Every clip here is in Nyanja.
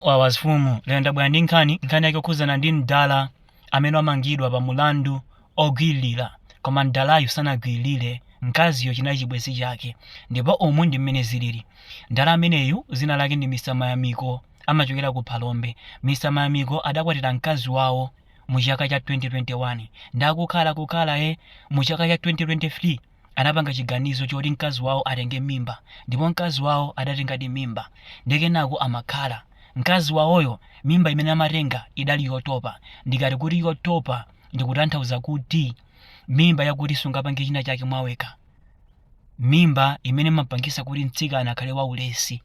Wawa mfumu lero ndabwera ndi nkhani, nkhani yake yokhudzana ndi mdala amene wamangidwa pa mulandu ogwiririra koma mdalayu sanagwiririre mkaziyo chinali chibwenzi chake ndipo umu ndi mmene zilili mdala ameneyu zina lake ndi Mr Mayamiko amachokera ku Phalombe Mr Mayamiko adakwatira mkazi wawo mu chaka cha 2021 ndakukhala kukhala e mu chaka cha 2023 anapanga chiganizo choti mkazi wawo atenge mimba ndipo mkazi wawo adatengadi mimba ndiye kenako amakhala. Mkazi wawoyo mimba imene amatenga idali yotopa. Ndikati kuti yotopa ndikutanthauza kuti mimba yakuti sungapange china chake mwawekha. Mimba imene imapangisa kuti mtsikana akhale waulesi.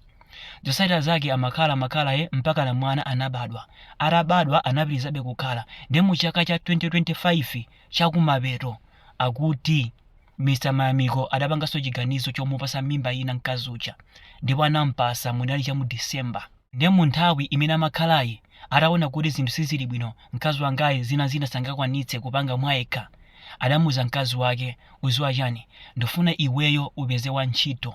Zotsatira zake amakhala amakhala e mpaka na mwana anabadwa. Atabadwa anapitirizabe kukhala. Ndiye mu chaka cha 2025 chakumapeto Akuti Mr Mayamiko adapanganso chiganizo chomupasa mimba ina mkazi uja ndipo anampasa munali chamu December nde munthawi imene amakhalayi ataona kuti zinthu sizili bwino mkazi wangayi zinazina sangakwanitse kupanga mwayekha adamuuza mkazi wake uziwa chani ndifuna iweyo upeze wantchito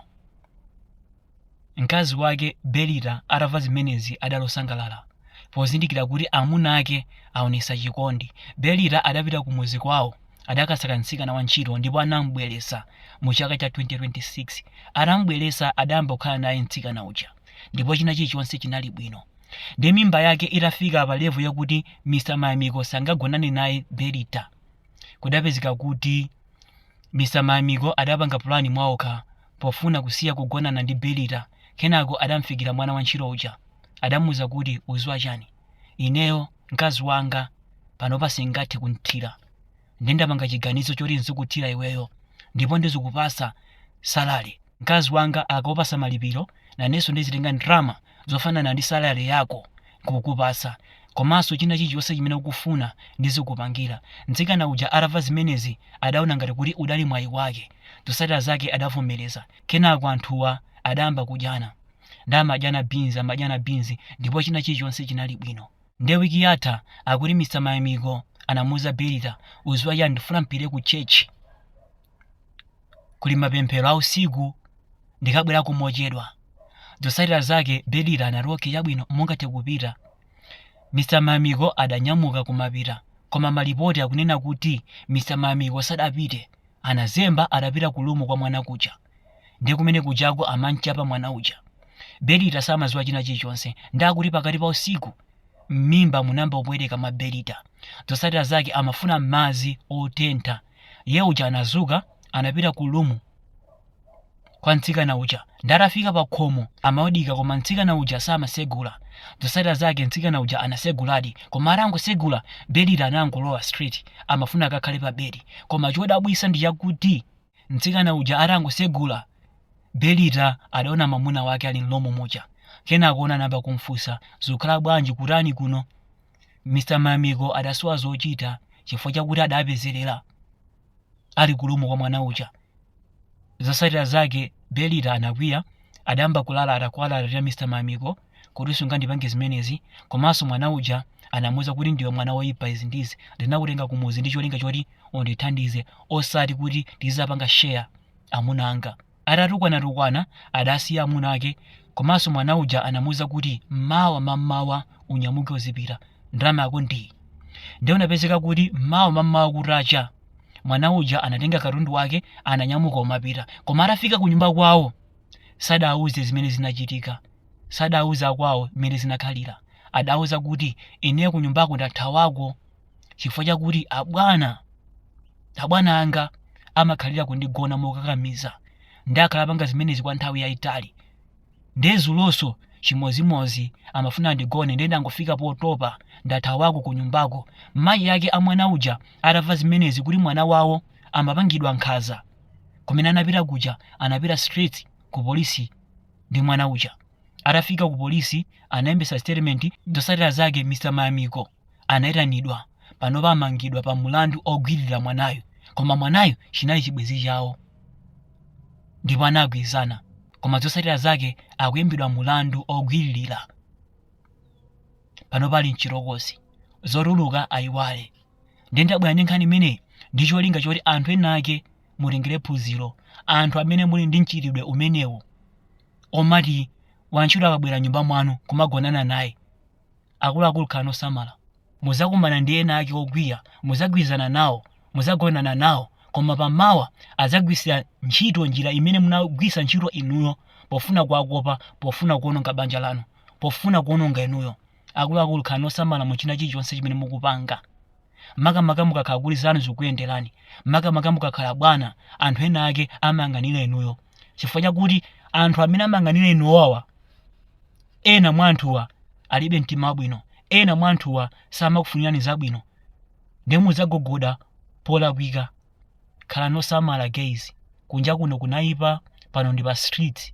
Mkazi wake Belita atamva zimenezi adali osangalala. Pozindikira kuti amuna ake aonetsa chikondi, Belita adapita kumudzi kwawo. Adakasaka mtsikana wantchito ndipo anam'bweretsa mu chaka cha 2026. Atam'bweretsa adayamba kukhala naye mtsikana uja ndipo china chilichonse chinali bwino. Ndiye mimba yake itafika pa level yakuti Mr Mayamiko sangagonane naye Belita, kudapezeka kuti Mr Mayamiko adapanga plan mwaokha pofuna kusiya kugonana ndi Belita. Kenako adamfikira mwana wantchito uja. Adamuuza kuti, Udziwa chani? Ineyo, mkazi wanga, panopa singathe kumthira. Nde ndapanga chiganizo choti nzikuthira iweyo. Ndipo ndizikupatsa salary. Mkazi wanga akakupatsa malipiro, nanenso ndizitenga ndalama zofanana ndi salary yako nkukupatsa komanso china chilichonse chimene ukufuna ndizikupangira. Mtsikana uja atamva zimenezi adaona ngati kuti udali mwayi wake. Zotsatira zake adavomereza. Kenako anthuwa adayamba kudyana. Nde amadyana beans amadyana beans ndipo china chilichonse chinali bwino. Nde week yatha akuti Mr Mayamiko anamuuza Belita uziwa chani ndifuna mpite ku church. kuli mapemphero a usiku ndikabwerako mochedwa zotsatira zake belita anati okay chabwino mungathe kupita mr mayamiko adanyamuka kumapita koma malipoti akunena kuti mr mayamiko sadapite anazemba adapita ku lumu kwa mwana kuja ndiye kumene kujako amamchapa mwana uja belita samaziwa china chilichonse ndi akuti pakati pa usiku m'mimba munayamba kupweteka mwa belita zotsatira zake amafuna madzi otentha Iye uja anazuka anapita ku lumu kwa mtsikana uja ndi atafika pa khomo amaodika koma mtsikana uja samasegula zotsatira zake mtsikana uja anaseguladi koma atangosegula Belita anangolowa straight amafuna akakhale pa bedi koma chodabwisa ndi chakuti mtsikana uja atangosegula Belita adaona mamuna wake ali mlumu muja kenako anayamba kumfunsa zikukhala bwanji kutani kuno Mr. Mayamiko adasowa zochita chifukwa chakuti adapezerera ali kulumu kwa mwana uja. Zotsatira zake Belita anakwiya, adayamba kulalata kuwalalatira Mr. Mayamiko kuti sungandipange zimenezi, komanso mwana uja anamuuza kuti ndiwe mwana woipa izi ndi izi, ndinakutenga kumudzi ndi cholinga choti undithandize osati kuti tizizapanga share amuna anga. Atatukwana-tukwana adasiya amuna ake komanso mwana uja anamuuza kuti mawa mammawa unyamuke uzipita ndalama yako ndiyi. Ndiye kunapezeka kuti mawa mammawa kutacha mwana uja anatenga katundu wake ananyamuka kumapita koma atafika kunyumba kwawo sadauze zimene zinachitika sadauze akwawo zimene zinakhalira adauza kuti ineyo kunyumbako ndathawako. chifukwa chakuti abwana abwana anga amakhalira kundigona mokakamiza ndiye akhala akupanga zimenezi kwa nthawi yayitali ndiye dzulonso chimozimozi amafuna andigone ndiye ndangofika potopa ndathawako ku nyumbako mayi ake a mwana uja atamva zimenezi kuti mwana wawo amapangidwa nkhanza kumene anapita kuja anapita straight ku polisi ndi mwana uja atafika ku polisi analembetsa statement zotsatira zake mr mayamiko anaitanidwa panopa amangidwa pa mulandu ogwiririra mwanayu koma mwanayu chinali chibwenzi chawo ndipo anagwirizana koma zotsatira zake akuimbidwa mulandu ogwiririra panopa ali mchitokosi zotuluka ayiwale ndiye ndabwera ndi nkhani imeneyi ndi cholinga choti anthu ena ake mutengere phunziro anthu amene muli ndi mchitidwe umenewu omati wantchito akabwera nyumba mwanu kumagonana naye Akuluakulu khalani osamala. Mudzakumana ndi ena ake okwiya, mudzagwirizana nawo, mudzagonana nawo, koma pamawa adzagwiritsira ntchito njira imene munagwiritsa ntchito inuyo pofuna kuwakopa, pofuna kuwononga banja lanu, pofuna kuwononga inuyo. Akuluakulu khalani osamala mu china chilichonse chimene mukupanga. makamaka mukakhala kuti zanu zikukuyenderani makamaka mukakhala bwana anthu ena ake amayang'anira inuyo chifukwa chakuti anthu amene amayang'anira inuwawa ena mwa anthuwa alibe mtima wabwino ena mwa anthuwa samakufunirani zabwino ndiye mudzagogoda polakwika khalani osamala guys kunja kuno kunayipa pano ndi pa street